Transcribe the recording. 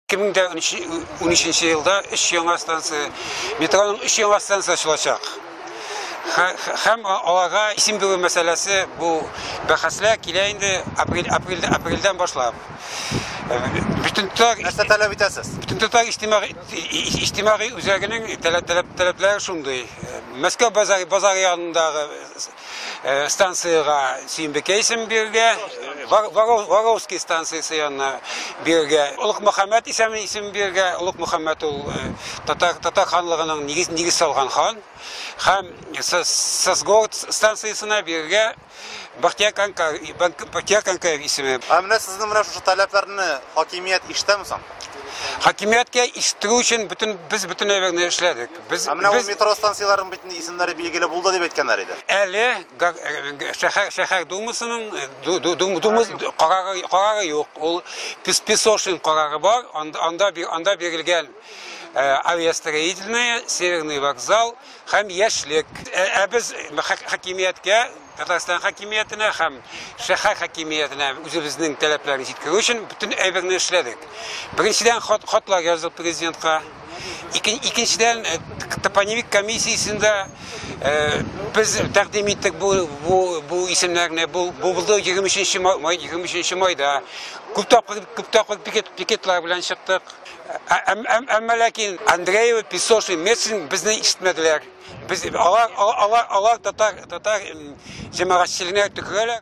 2013 елда өч яңа станция, метроның өч яңа станция ачылачак. Һәм аларга исем бирү мәсьәләсе бу бәхәсләр килә инде апрель, апрель, апрельдән башлап. Бөтен төр нәрсә таләп итәсез? Бөтен төр иҗтимагый иҗтимагый үзәгенең таләп таләп таләпләре шундый. Мәскәү базары базары янындагы Э, станцияга Симбикә исем бирергә, Варовский станциясе янына бирергә, Олук Мөхәммәд исеме исем бирергә. Олук Мөхәммәд ул э, татар татар ханлыгының нигез нигез салган хан. Һәм Сосгород станциясенә бирергә Бахтияр Канкар, Бахтияр Канкаев исеме. Ә менә сезнең менә шушы таләпләрне хакимият ишетәме соң? Хакимияткә ишетү өчен бөтен без бөтен әйберне эшләдек. Без, Ә менә ул без метро станцияләренең бит инде исемнәре билгеле булды дип әйткәннәр иде. әле га- э, шәһәр шәһәр думасының э, ду- ду- дум- думас карары карары юк. Ул Пес- Песошин карары бар. Анда анда би- анда бирелгән э, авиастроительная, Северный вокзал һәм Яшьлек. Ә ә без хак- хакимияткә Татарстан хакимиятенә һәм шәһәр хакимиятенә үзебезнең таләпләрне җиткерү өчен бөтен әйберне эшләдек. Беренчедән, хат, хатлар яздык президентка. Икен, икенчедән, э, топонимик комиссиясендә э, без тәкъдим иттек бу, бу, бу исемнәрне. Бу, бу булды 23 май, 23 майда. Күп тапкыр, күп тапкыр пикет, пикетлар белән чыктык. Әмма ләкин Андреева, Песошин, Мецин безне ишетмәделәр. Без алар алар алар татар татар җәмәгатьчелегенә төкерәләр.